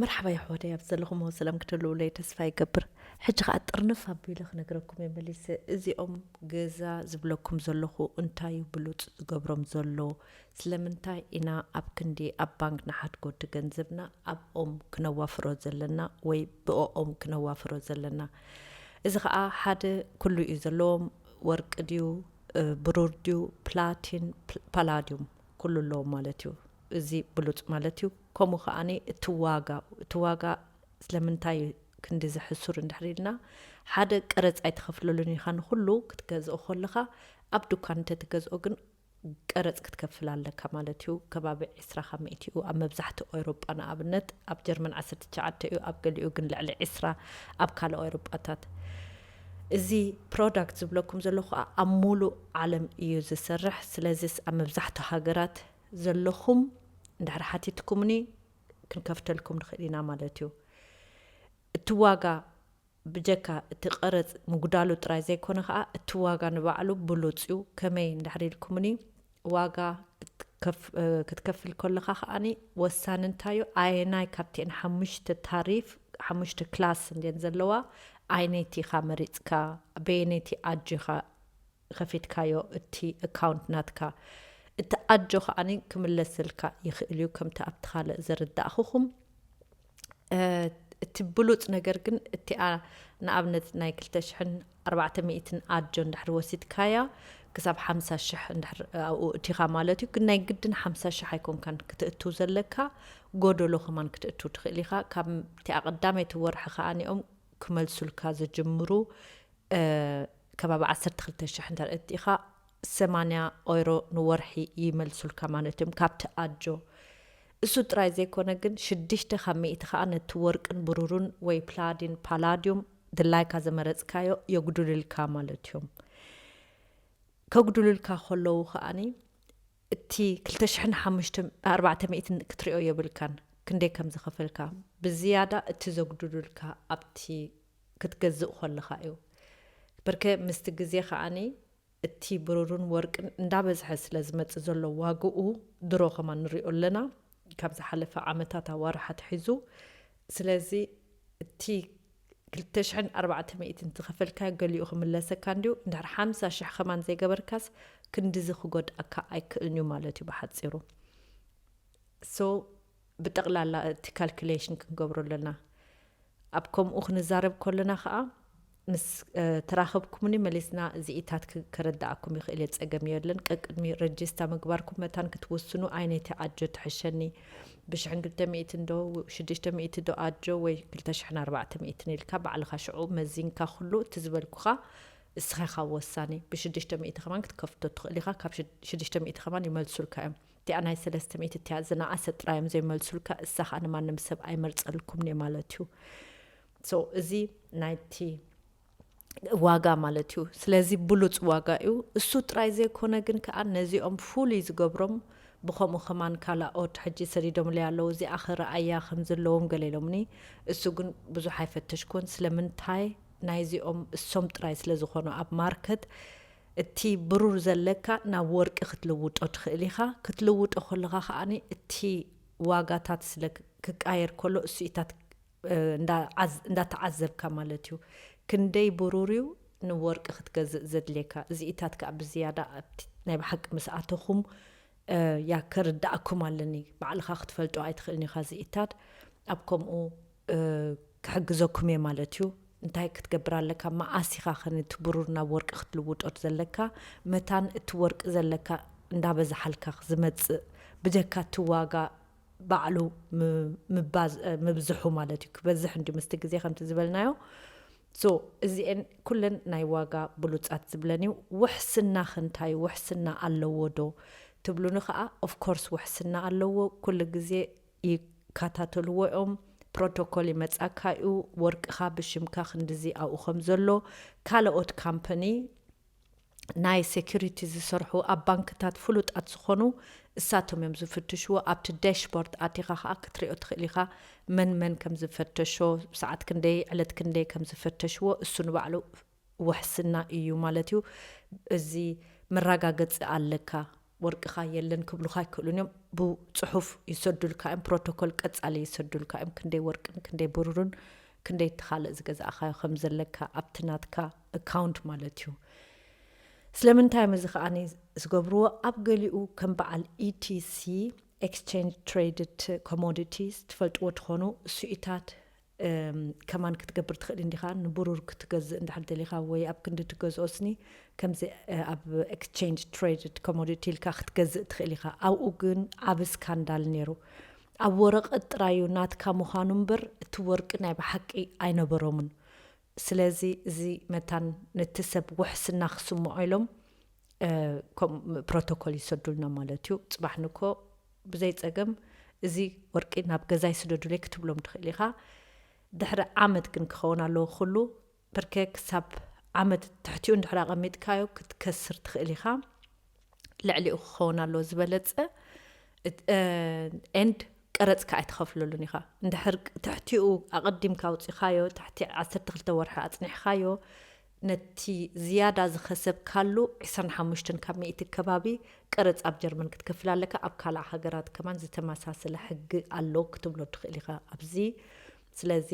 መርሓባ የሕዋተይ ኣብዚ ዘለኹምዎ ሰላም ክትህልውለይ ተስፋ ይገብር ሕጂ ከኣ ጥርንፍ ኣቢለ ክነግረኩም እየ መሊሰ እዚኦም ገዛ ዝብለኩም ዘለኹ እንታይ እዩ ብሉጽ ዝገብሮም ዘሎ ስለምንታይ ኢና ኣብ ክንዲ ኣብ ባንክ ንሓድጎ እቲ ገንዘብና ኣብኦም ክነዋፍሮ ዘለና ወይ ብኦኦም ክነዋፍሮ ዘለና እዚ ከኣ ሓደ ኩሉ እዩ ዘለዎም ወርቂ ድዩ ብሩር ድዩ ፕላቲን ፓላዲዩም ኩሉ ኣሎ ማለት እዩ እዚ ብሉጽ ማለት እዩ ከምኡ ከኣ እቲ ዋጋ እቲ ዋጋ ስለምንታይ እዩ ክንድዚ ሕሱር እንድሕር ኢልና ሓደ ቀረጽ ኣይትኸፍለሉን ኢኻ ንኹሉ ክትገዝኦ ኮለኻ ኣብ ዱካን እንተትገዝኦ ግን ቀረጽ ክትከፍል ኣለካ ማለት እዩ ከባቢ ዕስራ ካብ ሚእቲ እዩ ኣብ መብዛሕትኡ ኤውሮጳ ንኣብነት ኣብ ጀርመን ዓሰርተ ትሽዓተ እዩ ኣብ ገሊኡ ግን ልዕሊ ዕስራ ኣብ ካልእ ኤውሮጳታት እዚ ፕሮዳክት ዝብለኩም ዘለኹ ከኣ ኣብ ሙሉእ ዓለም እዩ ዝስርሕ ስለዚስ ኣብ መብዛሕትኡ ሃገራት ዘለኹም እንድሕር ሓቲትኩምኒ ክንከፍተልኩም ንኽእል ኢና ማለት እዩ እቲ ዋጋ ብጀካ እቲ ቀረጽ ምጉዳሉ ጥራይ ዘይኮነ ከኣ እቲ ዋጋ ንባዕሉ ብሉጽ እዩ ከመይ እንድሕር ኢልኩምኒ ዋጋ ክትከፍል ከለኻ ከኣ ወሳኒ እንታይ'ዩ ኣየናይ ካብቲኤን ሓሙሽተ ታሪፍ ሓሙሽተ ክላስ እንድየን ዘለዋ ኣየነይቲ ኢኻ መሪጽካ በየነይቲ ኣጆ ኢኻ ከፊትካዮ እቲ ኣካውንት ናትካ እቲ ኣጆ ከኣ ክምለሰልካ ይኽእል'ዩ ከምቲ ኣብቲ ካልእ ዘረዳእኹኹም እቲ ብሉጽ ነገር ግን እቲኣ ንኣብነት ናይ 2400 ኣጆ እንድሕር ወሲድካያ ክሳብ ሓምሳ ሽሕ እንድሕር ኣብኡ እቲኻ ማለት እዩ ግን ናይ ግድን ሓምሳ ሽሕ ኣይኮንካን ክትእትው ዘለካ ጎደሎ ከማን ክትእትው ትኽእል ኢኻ ካብቲ ኣቐዳመይቲ ወርሒ ከዓኒኦም ክመልሱልካ ዝጅምሩ ከባቢ 12 ሽሕ እንተ እቲኻ 80 ኦይሮ ንወርሒ ይመልሱልካ ማለት እዮም ካብቲ ኣጆ እሱ ጥራይ ዘይኮነ ግን ሽድሽተ ካብ ሚእቲ ከኣ ነቲ ወርቅን ብሩሩን ወይ ፕላዲን፣ ፓላዲዩም፣ ድላይካ ዘመረጽካዮ የጉዱልልካ ማለትዮም። ከጉዱሉልካ ከለዉ ከኣ እቲ ክልተ ሽሕን ሓሙሽተ ኣርባዕተ ሚእትን ክትሪኦ የብልካን ክንደይ ከም ዝኸፈልካ። ብዝያዳ እቲ ዘጉዱሉልካ ኣብቲ ክትገዝእ ኮለኻ እዩ። በርከ ምስቲ ግዜ ከኣ እቲ ብሩርን ወርቅን እንዳበዝሐ ስለ ዝመጽእ ዘሎ ዋግኡ ድሮ ከማን ንሪኦ ኣለና ካብ ዝሓለፈ ዓመታት ኣዋርሕ ኣትሒዙ ስለዚ እቲ ክልተ ሽሕን ኣርባዕተ ሚእትን ዝኸፈልካዮ ገሊኡ ክምለሰካ እንድዩ እንድሕር ሓምሳ ሽሕ ከማን ዘይገበርካስ ክንድዚ ክጎድኣካ ኣይክእልንዩ ማለትዩ ብሓጺሩ so ብጠቕላላ እቲ ካልኩሌሽን ክንገብሮ ኣለና። ኣብ ከምኡ ክንዛረብ ከሎና ከኣ ምስ ተራኸብኩምኒ መሊስና እዚኢታት ከረድኣኩም ይኽእል እየ ጸገም የለን። ቀቅድሚ ረጂስታ ምግባርኩም መታን ክትውስኑ ኣይነቲ ኣጆ ትሕሸኒ ብሽሕን ክልተ ሚእትን ዶ ሽዱሽተ ሚእቲ ዶ ኣጆ ወይ ክልተ ሽሕን ኣርባዕተ ሚእትን ኢልካ ባዕልኻ ሽዑ መዚንካ ኩሉ እቲ ዝበልኩኻ እስኻ ኢኻ ወሳኒ ብሽዱሽተ ሚእቲ ከማን ክትከፍቶ ትኽእል ኢኻ ካብ ሽዱሽተ ሚእቲ ከማን ይመልሱልካ እዮም እቲኣ ናይ ሰለስተ ሚእቲ እቲኣ ዝነኣሰት ጥራይ እዮም ዘይመልሱልካ እሳ ከኣ ንማንም ሰብ ኣይመርጸልኩምን እየ ማለት እዩ ሶ እዚ ናይቲ ዋጋ ማለት እዩ ስለዚ ብሉጽ ዋጋ እዩ እሱ ጥራይ ዘይኮነ ግን ከኣ ነዚኦም ፍሉይ ዝገብሮም ብከምኡ ከማን ካላኦት ሕጂ ሰዲዶምለይ ኣለዉ እዚኣ ክረኣያ ከም ዘለዎም ገለ ኢሎምኒ እሱ ግን ብዙሕ ኣይፈተሽኩን ስለምንታይ ናይዚኦም እሶም ጥራይ ስለ ዝኾኑ ኣብ ማርከት እቲ ብሩር ዘለካ ናብ ወርቂ ክትልውጦ ትኽእል ኢኻ፣ ክትልውጦ ከለኻ ከኣ እቲ ዋጋታት ስለ ክቃየር ከሎ እሱኢታት እንዳተዓዘብካ ማለት እዩ። ክንደይ ብሩር እዩ ንወርቂ ክትገዝእ ዘድልየካ እዚኢታት ከኣ ብዝያዳ ኣብቲ ናይ ብሓቂ ምስ ኣተኹም ያከርደኣኩም ኣለኒ ባዕልኻ ክትፈልጦ ኣይትኽእልን ኢኻ እዚኢታት ኣብ ከምኡ ክሕግዘኩም'የ ማለት'ዩ። እንታይ ክትገብር ኣለካ መኣስ ኢኻ'ኸ ነቲ ብሩር ናብ ወርቂ ክትልውጦ ዘለካ? መታን እቲ ወርቂ ዘለካ እንዳበዝሓልካ ዝመጽእ ብጀካ እቲ ዋጋ ባዕሉ ምብዝሑ ማለት'ዩ። ክበዝሕ እንድዩ ምስቲ ግዜ ከምቲ ዝበልናዮ። So እዚኤን ኩለን ናይ ዋጋ ብሉጻት ዝብለን'ዩ። ውሕስና'ኸ እንታይ'ዩ? ውሕስና ኣለዎ'ዶ? ትብሉኒ ከኣ of course ውሕስና ኣለዎ። ኩሉ ግዜ ይካታተልዎ ዮም ፕሮቶኮል ይመጻካ ዩ ወርቅካ ብሽምካ ክንድዚ ኣብኡ ከም ዘሎ ካለኦት ካምፐኒ ናይ ሰኩሪቲ ዝሰርሑ ኣብ ባንክታት ፍሉጣት ዝኮኑ እሳቶም ዮም ዝፍትሽዎ ኣብቲ ዳሽቦርድ ኣቲካ ከኣ ክትሪኦ ትክእል ኢካ መን መን ከም ዝፈተሾ ሰዓት ክንደይ ዕለት ክንደይ ከም ዝፈተሽዎ እሱ ንባዕሉ ውሕስና ኢዩ ማለት ኢዩ እዚ መራጋገጺ ኣለካ ወርቅካ የለን ክብሉካ ኣይክእሉን ኢዮም ብጹሑፍ ይሰዱልካ ኢዮም ፕሮቶኮል ቀጻሊ ይሰዱልካ ኢዮም ክንደይ ወርቅን ክንደይ ብሩርን ክንደይ እቲ ካልእ ዝገዛእካዮ ከም ዘለካ ኣብቲ ናትካ እካውንት ማለት ኢዩ ስለምንታይ ኢዮም እዚ ከኣ ዝገብርዎ ኣብ ገሊኡ ከም በዓል ኢቲሲ ኤክስቸንጅ ትሬድድ ኮሞዲቲስ ትፈልጥዎ ትኾኑ እሱኢታት ከማን ክትገብር ትክእል እንዲካ ንቡሩር ክትገዝእ እንድሕር ደሊካ ወይ ኣብ ክንዲ ትገዝኦ ስኒ ከምዚ ኣብ ኤክስቸንጅ ትሬድድ ኮሞዲቲ ኢልካ ክትገዝእ ትክእል ኢካ ኣብኡ ግን ዓቢ ስካንዳል ኔሩ ኣብ ወረቀት ጥራዩ ናትካ ምኳኑ እምበር እቲ ወርቂ ናይ ብሓቂ ኣይነበሮምን ስለዚ እዚ መታን ነቲ ሰብ ውሕስና ክስምዖ ኢሎም ከምኡ ፕሮቶኮል ይሰዱልና ማለት እዩ። ጽባሕ ንግሆ ብዘይ ጸገም እዚ ወርቂ ናብ ገዛይ ስደዱለይ ክትብሎም ትኽእል ኢኻ። ድሕሪ ዓመት ግን ክኸውን ኣለዎ ኩሉ፣ ብርከ ክሳብ ዓመት ትሕቲኡ እንድሕር ኣቐሚጥካዮ ክትከስር ትኽእል ኢኻ። ልዕሊኡ ክኸውን ኣለዎ ዝበለጸ ኤንድ ቀረጽ ከ ኣይትኸፍለሉን ኢኻ እንድሕር ትሕቲኡ ኣቐዲምካ ኣውፂኻዮ ትሕቲ 12 ወርሒ ኣጽኒሕኻዮ ነቲ ዝያዳ ዝኸሰብካሉ 25 ካብ ሚእቲ ከባቢ ቀረጽ ኣብ ጀርመን ክትከፍል ኣለካ ኣብ ካልእ ሃገራት ከማን ዝተመሳሰለ ሕጊ ኣሎ ክትብሎ ትኽእል ኢኻ ኣብዚ ስለዚ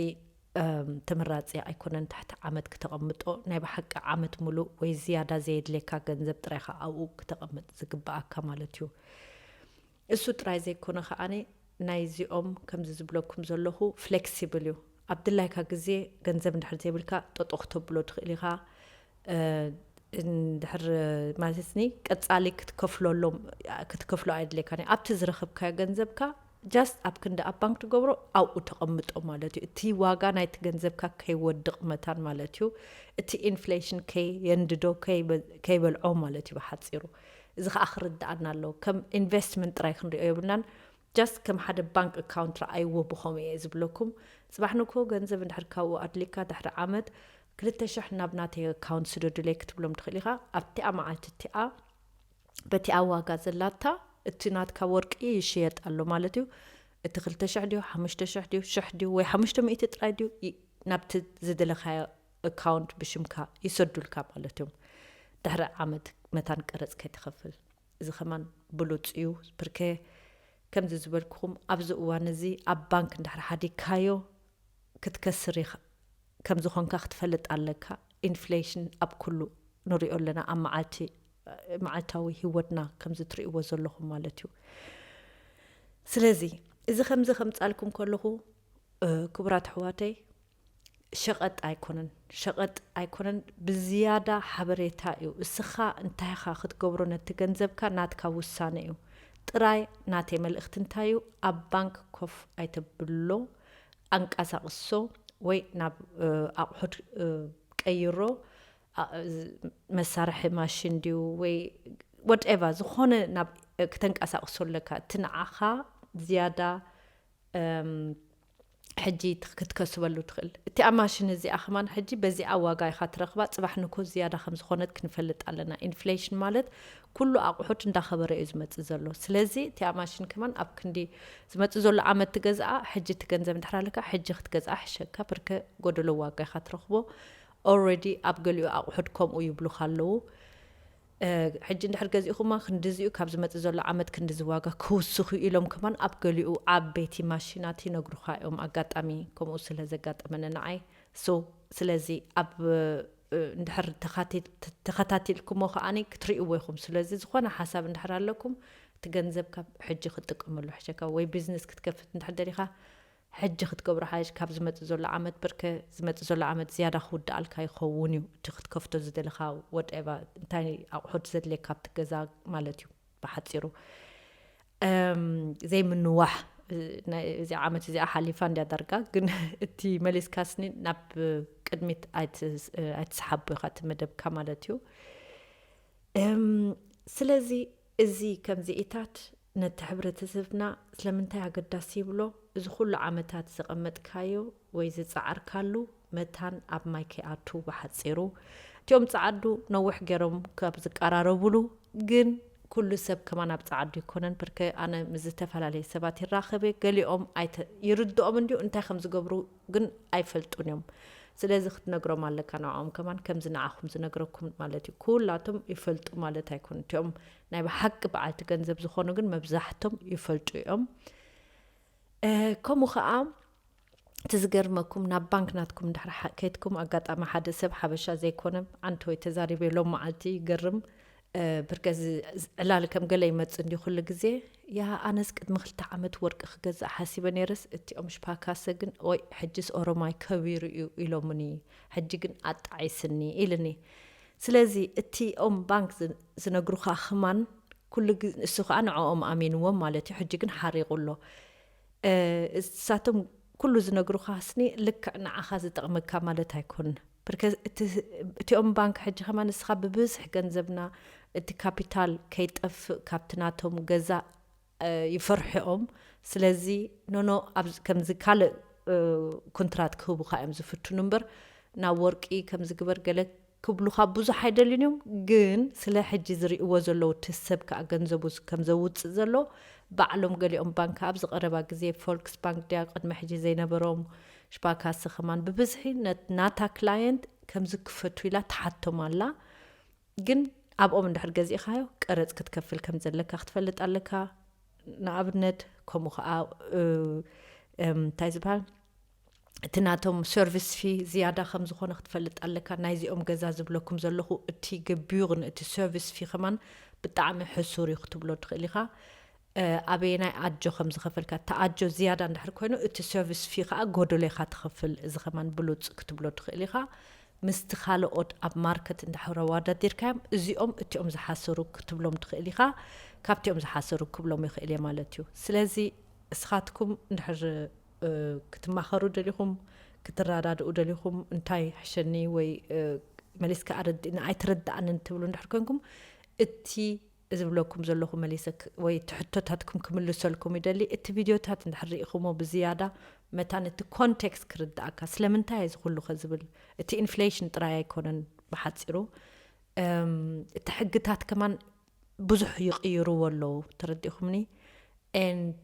ተመራጺ ኣይኮነን ትሕቲ ዓመት ክተቐምጦ ናይ ብሓቂ ዓመት ሙሉእ ወይ ዝያዳ ዘየድልየካ ገንዘብ ጥራይ ኢኻ ኣብኡ ክተቐምጥ ዝግብኣካ ማለት እዩ እሱ ጥራይ ዘይኮነ ከኣ ናይዚኦም ከምዚ ዝብለኩም ዘለኹ ፍሌክሲብል እዩ ኣብ ድላይካ ግዜ ገንዘብ እንድሕር ዘይብልካ ጠጦ ክተብሎ ትኽእል ኢኻ እንድሕር ማለትኒ ቀጻሊ ክትከፍለሎም ክትከፍሎ ኣየድልየካን እዩ ኣብቲ ዝረኸብካዮ ገንዘብካ ጃስት ኣብ ክንዲ ኣብ ባንክ ትገብሮ ኣብኡ ተቐምጦ ማለት እዩ እቲ ዋጋ ናይቲ ገንዘብካ ከይወድቕ መታን ማለት እዩ እቲ ኢንፍሌሽን ከየንድዶ ከይበልዖ ማለት እዩ ብሓፂሩ እዚ ከዓ ክርድኣና ኣለዎ ከም ኢንቨስትመንት ጥራይ ክንሪኦ የብልናን ጃስት ከም ሓደ ባንክ ኣካውንት ረኣይዎ ብኸምኡ እየ ዝብለኩም ፅባሕ ንግሆ ገንዘብ እንድሕር ካብኡ ኣድሊካ ድሕሪ ዓመት ክልተ ሽሕ ናብ ናተይ ኣካውንት ስደዱለይ ክትብሎም ትኽእል ኢኻ ኣብቲኣ መዓልቲ እቲኣ በቲ ኣብ ዋጋ ዘላታ እቲ ናትካ ወርቂ ይሽየጥ ኣሎ ማለት እዩ። እቲ ክልተ ሽሕ ድዩ ሓሙሽተ ሽሕ ድዩ ሽሕ ድዩ ወይ ሓሙሽተ ሚእቲ ጥራይ ድዩ ናብቲ ዝደለኻዮ እካውንት ብሽምካ ይሰዱልካ ማለት እዮም ድሕሪ ዓመት መታን ቀረጽ ከይትኸፍል። እዚ ከማን ብሉጽ እዩ ብርከ ከምዚ ዝበልኩኹም ኣብዚ እዋን እዚ ኣብ ባንክ እንድሕር ሓዲግካዮ ክትከስር ኢኻ ከም ዝኾንካ ክትፈልጥ ኣለካ ኢንፍሌሽን ኣብ ኩሉ ንሪኦ ኣለና ኣብ መዓልቲ መዓልታዊ ሂወትና ከምዚ ትርእይዎ ዘለኹም ማለት እዩ ስለዚ እዚ ከምዚ ከምጻልኩም ከለኹ ክቡራት ኣሕዋተይ ሸቐጥ ኣይኮነን ሸቐጥ ኣይኮነን ብዝያዳ ሓበሬታ እዩ እስኻ እንታይ ኢኻ ክትገብሮ ነቲ ገንዘብካ ናትካ ውሳነ እዩ ጥራይ ናተይ መልእኽቲ እንታይ እዩ ኣብ ባንክ ኮፍ ኣይተብሎ ኣንቀሳቕሶ ወይ ናብ ኣቑሑት ቀይሮ መሳርሒ ማሽን ድዩ ወይ ወድኤቫ ዝኾነ ናብ ክተንቀሳቕሶ ኣለካ እቲ ንዓኻ ዝያዳ ሕጂ ክትከስበሉ ትኽእል እቲኣ ማሽን እዚኣ ከማን ሕጂ በዚኣ ዋጋ ኢኻ ትረኽባ ፅባሕ ንኮ ዝያዳ ከም ዝኾነት ክንፈልጥ ኣለና ኢንፍሌሽን ማለት ኩሉ ኣቑሑት እንዳኸበረ እዩ ዝመፅእ ዘሎ ስለዚ እቲኣ ማሽን ከማን ኣብ ክንዲ ዝመፅእ ዘሎ ዓመት ትገዝኣ ሕጂ እቲ ገንዘብ እንድሕር ኣለካ ሕጂ ክትገዝኣ ሕሸካ ብርከ ጎደሎ ዋጋ ኢኻ ትረኽቦ Already ኣብ ገሊኡ ኣቑሑት ከምኡ ይብሉኻ ኣለዉ ሕጂ እንድሕር ገዚእኹማ ክንድዚ እዩ ካብ ዝመጽእ ዘሎ ዓመት ክንድዚ ዋጋ ክውስኽ እዩ ኢሎም ከማን ኣብ ገሊኡ ዓበይቲ ማሽናት ይነግሩኻ እዮም ኣጋጣሚ ከምኡ ስለ ዘጋጠመኒ ንዓይ so ስለዚ ኣብ እንድሕር ተኸታቲልኩሞ ከኣኒ ክትሪእዎ ኢኹም ስለዚ ዝኾነ ሓሳብ እንድሕር ኣለኩም እቲ ገንዘብ ካብ ሕጂ ክትጥቀመሉ ሕሸካ ወይ ቢዝነስ ክትከፍት እንድሕር ደሊኻ ሕጂ ክትገብሮ ሓይሽ ካብ ዝመጽእ ዘሎ ዓመት ብርክ ዝመጽእ ዘሎ ዓመት ዝያዳ ክውድኣልካ ይኸውን እዩ እቲ ክትከፍቶ ዝደለኻ ወድኤቫ እንታይ ኣቑሑት ዘድልየካ ኣብቲ ገዛ ማለት እዩ ብሓጺሩ እም ዘይምንዋሕ እዚ ዓመት እዚኣ ሓሊፋ እንድያ ዳርጋ ግን እቲ መሊስካስኒ ናብ ቅድሚት ኣይትስሓቦ ኢኻ እቲ መደብካ ማለት እዩ እም ስለዚ እዚ ከምዚኢታት ነቲ ሕብረተሰብና ስለምንታይ ኣገዳሲ ይብሎ? እዚ ኩሉ ዓመታት ዘቐመጥካዮ ወይ ዝጸዓርካሉ መታን ኣብ ማይ ከይኣቱ ብሓጺሩ እቲኦም ጸዓዱ ነውሕ ገሮም ካብ ዝቃራረቡሉ ግን ኩሉ ሰብ ከማን ኣብ ጸዓዱ ኣይኮነን ብርከ ኣነ ምስ ዝተፈላለየ ሰባት ይራኸብ እየ ገሊኦም ኣይተ ይርድኦም እንድዩ እንታይ ከም ዝገብሩ ግን ኣይፈልጡን እዮም ስለዚ ክትነግሮም ኣለካ ንዕኦም ከማን ከምዚ ንዓኹም ዝነግረኩም ማለት እዩ ኩላቶም ይፈልጡ ማለት ኣይኮን እቲኦም ናይ ብሓቂ በዓልቲ ገንዘብ ዝኾኑ ግን መብዛሕቶም ይፈልጡ እዮም ከምኡ ከዓ እቲ ዝገርመኩም ናብ ባንክ ናትኩም ድሕሪ ከይትኩም ኣጋጣሚ ሓደ ሰብ ሓበሻ ዘይኮነ ዓንተወይ ተዛሪበ ሎም መዓልቲ ይገርም ብርከ ዕላል ከም ገለ ይመፅ እንዲ ኩሉ ግዜ ያ ኣነስ ቅድሚ ክልተ ዓመት ወርቂ ክገዛእ ሓሲበ ነይረስ እቲኦም ሽፓካሰ ግን ወይ ሕጅስ ኦሮማይ ከቢሩ እዩ ኢሎምኒ ሕጂ ግን ኣጣዒስኒ ኢልኒ ስለዚ እቲ ኦም ባንክ ዝነግሩኻ ኽማን ኩሉ እሱ ኸኣ ንዕኦም ኣሚንዎም ማለት እዩ ሕጂ ግን ሓሪቁ ኣሎ እሳቶም ኩሉ ዝነግሩኻ ስኒ ልክዕ ንዓኻ ዝጠቅመካ ማለት ኣይኮን ብርከ እቲ ኦም ባንክ ሕጂ ኸማን ንስኻ ብብዝሕ ገንዘብና እቲ ካፒታል ከይጠፍእ ካብቲ ናቶም ገዛ ይፈርሑ'ዮም ስለዚ ኖኖ ኣብ ከምዚ ካልእ ኩንትራት ክህቡኻ እዮም ዝፍትኑ እምበር ናብ ወርቂ ከምዚ ግበር ገለ ክብሉኻ ብዙሕ ኣይደልዩን እዮም ግን ስለ ሕጂ ዝሪእዎ ዘለዉ እቲ ሰብ ከኣ ገንዘቡ ከም ዘውጽእ ዘሎ ባዕሎም ገሊኦም ባንክ ኣብዚ ቀረባ ግዜ ፎልክስ ባንክ ድያ ቅድሚ ሕጂ ዘይነበሮም ሽፓካሰ ከማን ብብዝሒ ናታ ክላየንት ከምዚ ክፈቱ ኢላ ትሓቶም ኣላ ግን ኣብኦም እንድሕር ገዚእኻዮ ቀረጽ ክትከፍል ከም ዘለካ ክትፈልጥ ኣለካ ንኣብነት ከምኡ ከዓ እንታይ ዝበሃል እቲ ናቶም ሰርቪስ ፊ ዝያዳ ከም ዝኾነ ክትፈልጥ ኣለካ ናይዚኦም ገዛ ዝብለኩም ዘለኹ እቲ ገቢዩር እቲ ሰርቪስ ፊ ከማን ብጣዕሚ ሕሱር እዩ ክትብሎ ትኽእል ኢኻ ኣበየናይ ኣጆ ከም ዝኸፈልካ፣ እቲ ኣጆ ዝያዳ እንድሕር ኮይኑ እቲ ሰርቪስ ፊ ከኣ ጎደሎ ኢኻ ትኸፍል፣ እዚ ከማን ብሉጽ ክትብሎ ትኽእል ኢኻ፣ ምስቲ ካልኦት ኣብ ማርከት እንድሕር ኣዋዳዲርካዮም እዚኦም እቲኦም ዝሓሰሩ ክትብሎም ትኽእል ኢኻ፣ ካብቲኦም ዝሓሰሩ ክብሎም ይኽእል እየ ማለት እዩ። ስለዚ እስኻትኩም እንድሕር ክትማኸሩ ደሊኹም፣ ክትረዳድኡ ደሊኹም፣ እንታይ ሕሸኒ ወይ መሊስካ ኣረድእኒ ኣይተረደኣንን ትብሉ እንድሕር ኮንኩም እቲ እዚ ዝብለኩም ዘለኹ መሊሰ ወይ እቲ ሕቶታትኩም ክምልሰልኩም ይደሊ። እቲ ቪድዮታት እንድሕር ርኢኹሞ ብዝያዳ መታን እቲ ኮንቴክስት ክርድኣካ ስለምንታይ እየ እዚ ኩሉኸ ዝብል እቲ ኢንፍሌሽን ጥራይ ኣይኮነን ብሓጺሩ እቲ ሕግታት ከማን ብዙሕ ይቕይርዎ ኣለዉ ተረዲእኹምኒ and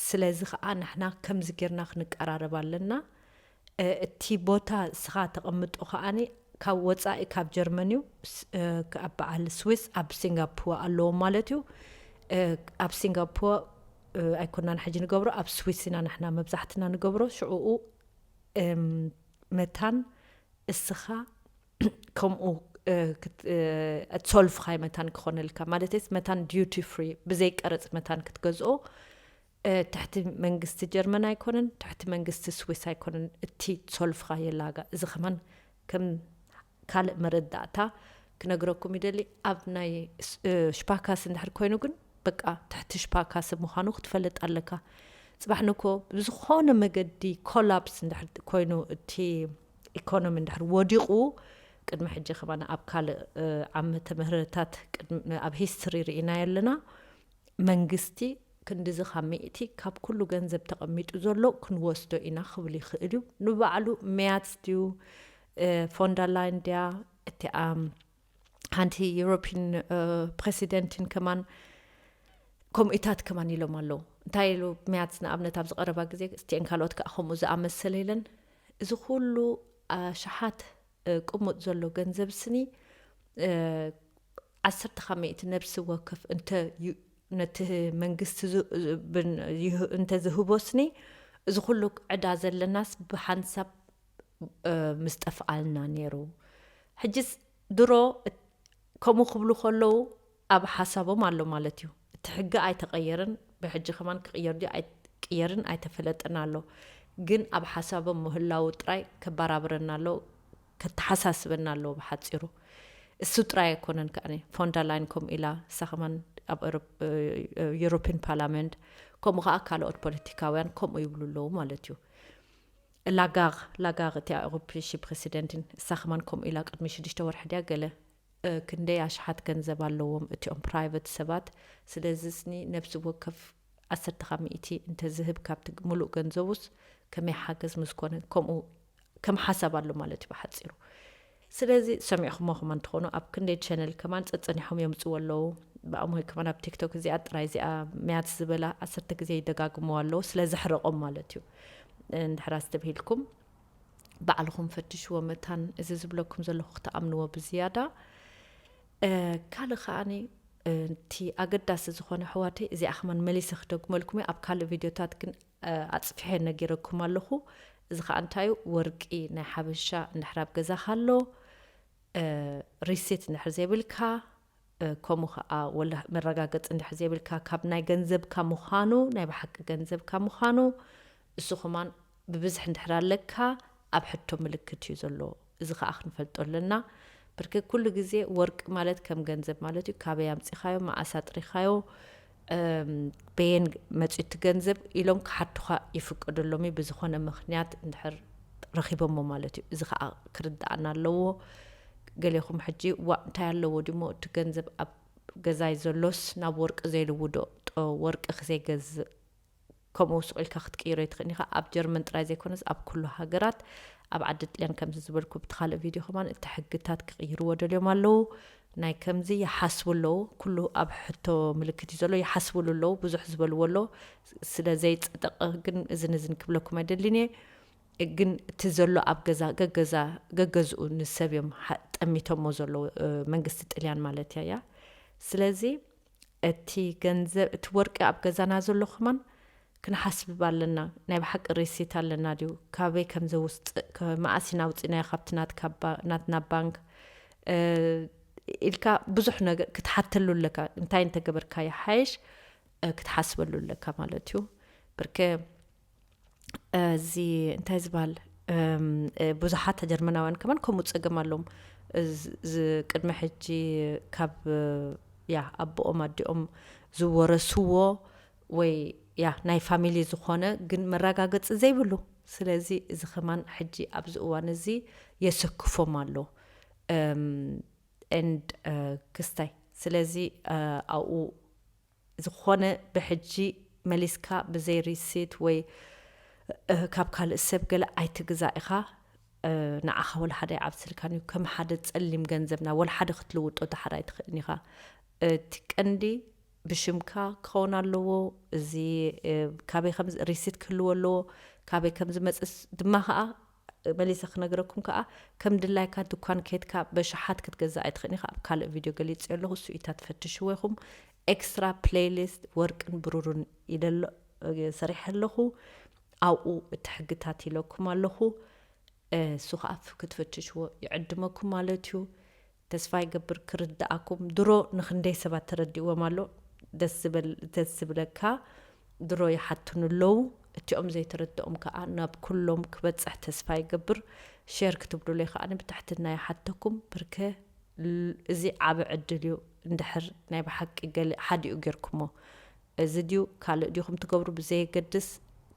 ስለዚ ኸኣ ንሕና ከምዚ ጌርና ክንቀራረብ ኣለና እቲ ቦታ ንስኻ ተቐምጦ ከኣ ካብ ወጻኢ ካብ ጀርመን እዩ፣ ኣብ በዓል ስዊስ ኣብ ሲንጋፑወ ኣለዎም ማለት እዩ፣ ኣብ ሲንጋፑወ ኣይኮናን ሕጂ ንገብሮ ኣብ ስዊስ ኢና ንሕና መብዛሕትና ንገብሮ ሽዑኡ መታን እስኻ ከምኡ ሶልፍኻይ መታን ክኾነልካ ማለተይስ መታን ዲዩቲ ፍሪ ብዘይ ቀረጽ መታን ክትገዝኦ ትሕቲ መንግስቲ ጀርመን ኣይኮነን ትሕቲ መንግስቲ ስዊስ ኣይኮነን እቲ ሶልፍካ የላጋ እዚ ከማን ከም ካልእ መረዳእታ ክነግረኩም ይደሊ ኣብ ናይ ሽፓካስ እንድሕር ኮይኑ ግን በቃ ትሕቲ ሽፓካስ ምዃኑ ክትፈልጥ ኣለካ ጽባሕ ንኮ ብዝኾነ መገዲ ኮላፕስ እንድሕር ኮይኑ እቲ ኢኮኖሚ እንድሕር ወዲቑ ቅድሚ ሕጂ ከማን ኣብ ካልእ ዓመተ ምህረታት ኣብ ሂስትሪ ርኢናዮ ኣለና መንግስቲ ክንድዚ ካብ ሚእቲ ካብ ኩሉ ገንዘብ ተቐሚጡ ዘሎ ክንወስዶ ኢና ክብል ይኽእል እዩ። ንባዕሉ መያትስ ድዩ ፎንደርላይን ድያ እቲኣ ሓንቲ ዩሮፒን ፕረሲደንትን ከማን ከምኡታት ከማን ኢሎም ኣለዉ እንታይ ኢሉ መያትስ ንኣብነት ኣብዚ ቀረባ ግዜ ስቲኤን ካልኦት ከዓ ከምኡ ዝኣመሰለ ኢለን እዚ ኩሉ ኣሽሓት ቅሙጥ ዘሎ ገንዘብ ስኒ ዓሰርተ ካብ ሚእቲ ነብሲ ወከፍ እንተ ነቲ መንግስቲ እንተዝህቦ ስኒ እዚ ኩሉ ዕዳ ዘለናስ ብሓንሳብ ምስ ጠፍኣልና ነይሩ ሕጅስ ድሮ ከምኡ ክብሉ ከለዉ ኣብ ሓሳቦም ኣሎ ማለት እዩ እቲ ሕጊ ኣይተቀየረን ብሕጂ ከማን ክቅየር ድዩ ኣይቅየርን ኣይተፈለጠን ኣሎ ግን ኣብ ሓሳቦም ምህላዉ ጥራይ ከባራብረና ኣሎ ከተሓሳስበና ኣለዎ ብሓጺሩ እሱ ጥራይ ኣይኮነን ከኣ ፎንዳላይን ከምኡ ኢላ እሳ ከማን ኣብ ዩሮፒን ፓርላመንት ከምኡ ከኣ ካልኦት ፖለቲካውያን ከምኡ ይብሉ ኣለዉ ማለት እዩ ላጋር ላጋር እቲ ኣውሮፒ ፕሬሲደንትን እሳ ከማን ከምኡ ኢላ ቅድሚ ሽዱሽተ ወርሒ ድያ ገለ ክንደይ ኣሽሓት ገንዘብ ኣለዎም እቲኦም ፕራይቨት ሰባት ስለዝስኒ ነብሲ ወከፍ ዓሰርተ ካብ ሚእቲ እንተዝህብ ካብቲ ምሉእ ገንዘቡስ ከመይ ሓገዝ ምስኮነ ከምኡ ከም ሓሳብ ኣሎ ማለት እዩ ብሓጺሩ ስለዚ ሰሚዕኹሞ ከማን እንትኾኑ ኣብ ክንደይ ቸነል ከማን ጸጸኒሖም የምጽዎ ኣለዉ ብኣሞይ ከማን ኣብ ቲክቶክ እዚኣ ጥራይ እዚኣ መያት ዝበላ ዓሰርተ ግዜ ይደጋግምዎ ኣለዉ ስለዘሕረቆም ማለት እዩ እንድሕር ኣስተብሂልኩም ባዕልኹም ፈትሽዎ መታን እዚ ዝብለኩም ዘለኹ ክትኣምንዎ ብዝያዳ ካልእ ከዓኒ እቲ ኣገዳሲ ዝኾነ ኣሕዋተይ እዚኣ ከማን መሊሰ ክደግመልኩም እየ ኣብ ካልእ ቪድዮታት ግን ኣፅፊሐ ነጊረኩም ኣለኹ እዚ ከዓ እንታይ እዩ ወርቂ ናይ ሓበሻ እንድሕር ኣብ ገዛኻ ኣሎ ሪሲት እንድሕር ዘይብልካ ከምኡ ከኣ ወላ መረጋገጺ እንድሕር ዘይብልካ ካብ ናይ ገንዘብካ ምዃኑ ናይ ብሓቂ ገንዘብካ ምዃኑ እሱ ከማን ብብዝሒ እንድሕር ኣለካ ኣብ ሕቶ ምልክት እዩ ዘሎ እዚ ከኣ ክንፈልጦ ኣለና ብርክ ኩሉ ግዜ ወርቂ ማለት ከም ገንዘብ ማለት እዩ ካበይ ኣምጺኻዮ መኣስ ኣጥሪኻዮ በየን መፅዩ እቲ ገንዘብ ኢሎም ክሓቱኻ ይፍቀደሎም እዩ ብዝኾነ ምኽንያት እንድሕር ረኺቦሞ ማለት እዩ እዚ ከዓ ክርዳኣና ኣለዎ ገሌኹም ሕጂ ዋእ እንታይ ኣለዎ ድሞ እቲ ገንዘብ ኣብ ገዛይ ዘሎስ ናብ ወርቂ ዘይልውዶ ጦ ወርቂ ክዘይገዝእ ከምኡ ሱቕ ኢልካ ክትቅይሮ ኣይትኽእልን ኢኻ። ኣብ ጀርመን ጥራይ ዘይኮነስ ኣብ ኩሉ ሃገራት ኣብ ዓዲ ጥልያን ከምዚ ዝበልኩ ብቲ ካልእ ቪድዮ ከማን እቲ ሕግታት ክቕይርዎ ደልዮም ኣለዉ ናይ ከምዚ ይሓስቡ ኣለዉ ኩሉ ኣብ ሕቶ ምልክት እዩ ዘሎ ይሓስብሉ ኣለዉ ብዙሕ ዝበልዎ ኣሎ ስለ ዘይጸደቐ ግን እዝን እዝን ክብለኩም ኣይደልን እየ ግን እቲ ዘሎ ኣብ ገዛ ገገዛ ገገዝኡ ንሰብ እዮም ጠሚቶሞ ዘለዉ መንግስቲ ጥልያን ማለት እያ እያ ስለዚ እቲ ገንዘብ እቲ ወርቂ ኣብ ገዛና ዘሎ ከማን ክንሓስብብ ኣለና ናይ ብሓቂ ሪሲት ኣለና ድዩ ካበይ ከም ዘውስጽእ ከ መኣስ ኢና ኣውጺናዮ ካብቲ ናትካ ናትና ባንክ ኢልካ ብዙሕ ነገር ክትሓተሉ ኣለካ እንታይ እንተገበርካ ይሓይሽ ክትሓስበሉ ኣለካ ማለት እዩ ብርከ እዚ እንታይ ዝባል ብዙሓት ጀርመናውያን ከማን ከምኡ ፀገም ኣለዎም ቅድሚ ሕጂ ካብ ያ ኣቦኦም ኣዲኦም ዝወረስዎ ወይ ያ ናይ ፋሚሊ ዝኾነ ግን መረጋገፂ ዘይብሉ ስለዚ እዚ ከማን ሕጂ ኣብዚ እዋን እዚ የሰክፎም ኣሎ ን ክስታይ ስለዚ ኣብኡ ዝኾነ ብሕጂ መሊስካ ብዘይ ሪሲት ወይ ካብ ካልእ ሰብ ገለ ኣይትግዛእ ኢኻ ንዓኻ ወላሓደ ኣይዓብስልካን እዩ ከም ሓደ ጸሊም ገንዘብ ናብ ወላሓደ ክትልውጦ ድሓር ኣይትኽእልን ኢኻ እቲ ቀንዲ ብሽምካ ክኸውን ኣለዎ እዚ ካበይ ከም ሪሲት ክህልዎ ኣለዎ ካበይ ከም ዝመጽእ ድማ ከኣ መሊሰ ክነግረኩም ከኣ ከም ድላይካ ድኳን ኬድካ በሽሓት ክትገዝእ ኣይትኽእን ኢኻ ኣብ ካልእ ቪድዮ ገሊጽዮ ኣለኹ እሱ እዩ እታ ትፈትሽዎ ኢኹም ኤክስትራ ፕለይሊስት ወርቅን ብሩሩን ኢለ ኣሎ ሰሪሐ ኣለኹ ኣብኡ እቲ ሕግታት ኢለኩም ኣለኹ እሱ ከኣ ክትፈትሽዎ ይዕድመኩም ማለት እዩ ተስፋ ይገብር ክርደኣኩም ድሮ ንክንደይ ሰባት ተረዲእዎም ኣሎ ደስ ዝበል ደስ ዝብለካ ድሮ ይሓቱኒ ኣለዉ እቲኦም ዘይተረደኦም ከኣ ናብ ኩሎም ክበጽሕ ተስፋ ይገብር ሸር ክትብሉለይ ከኣ ብትሕትና ይሓተኩም ብርከ እዚ ዓቢ ዕድል እዩ እንድሕር ናይ ብሓቂ ገሊ ሓዲኡ ጌርኩሞ እዚ ድዩ ካልእ ዲኹም ትገብሩ ብዘየገድስ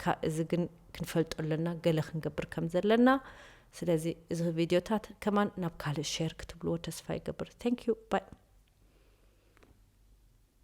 ካብ እዚ ግን ክንፈልጦ ኣለና ገለ ክንገብር ከም ዘለና ስለዚ እዚ ቪድዮታት ከማን ናብ ካልእ ሼር ክትብልዎ ተስፋ ይገብር ታንክ ዩ ባይ